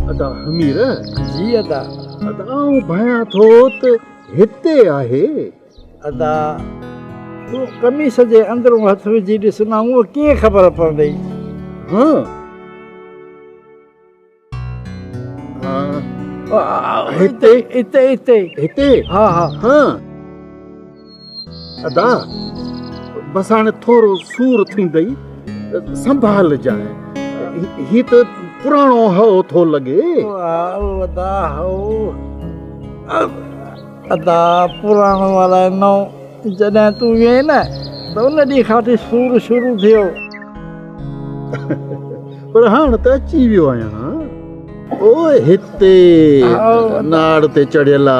ادا حمير جي ادا ادا آئون ڀانيان ٿو ته هتي آهي ادا تون قميص جي اندرون هٿ وجهي ڏس نه هونء ڪيئن خبر پوندئي هتي هتي هتي هتي ها ها ادا بس هاڻي ٿورو سور ٿيندئي سنڀالجانء هي ته پراڻو هئو ٿو لڳي ادا هئو ادا پراڻو الائي نئو جڏهن تون ويئي نه ته ان ڏينهن کان وٺي سور شروع ٿيو پر هاڻ ته اچي ويو آهيان او هتي ناڙ تي چڙهيل آ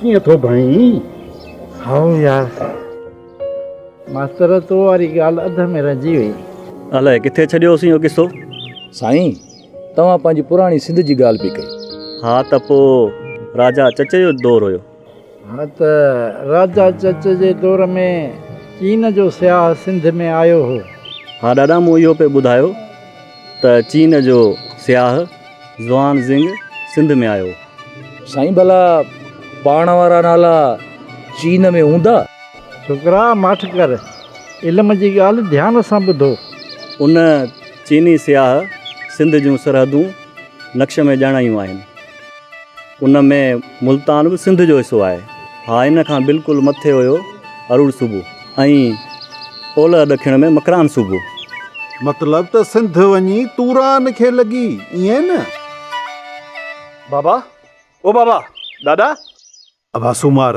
ڪيئن ٿو ڀائين؟ هائو يار ماستر تو واري ڳالهه اڌ ۾ رهجي وئي. الائي ڪٿي ڇڏيو هوسين اهو قصو؟ سائين توهان پنهنجي پراڻي سنڌ جي ڳالهه پئي ڪئي. ها ته پوء راجا چچي جو دور هيو. هونء ته راجا چچ جي دور ۾ چين جو سياح سنڌ ۾ آيو هو. ها ڏاڏا مون اهو پئي ٻڌايو ته چين جو سياح زوان زينگ سنڌ ۾ آيو. سائين ڀلا پاڻ وارا نالا چين ۾ هوندا؟ ڇوڪرا ماٺ ڪر علم جي ڳالهه ڌيان سان ٻڌو. ان چيني سياح سنڌ جون سرحدون نقش ۾ ڄاڻايون آهن. ان ۾ ملتان به سنڌ جو حصو آهي. ها ان کان بلڪل مٿي هيو اروڙ صوبو ۽ اولهه ڏکڻ ۾ مڪران صوبو. مطلب ته سنڌ وڃي توران کي لڳي ائين نه؟ بابا او بابا ڏاڏا. ابا سومار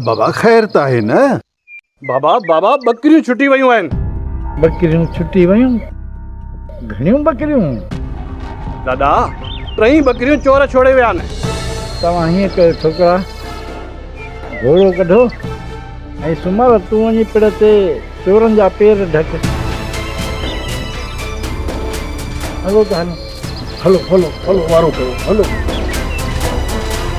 بابا خير ته آهي نه؟ بابا بابا ٻڪريون ڇٽي ويون آهن. ٻڪريون ڇٽي ويون؟ گهڻيون ٻڪريون؟ دادا ٽئي ٻڪريون چور ڇوڙي ويا آهن. توهان هيئن ڪيو ڇوڪرا گهوڙو ڪڍو ۽ سومار تون وڃي پڙ تي چورن جا پير ڍڪ. هلو ته هلون هلو هلو هلو وارو ڪيو هلو.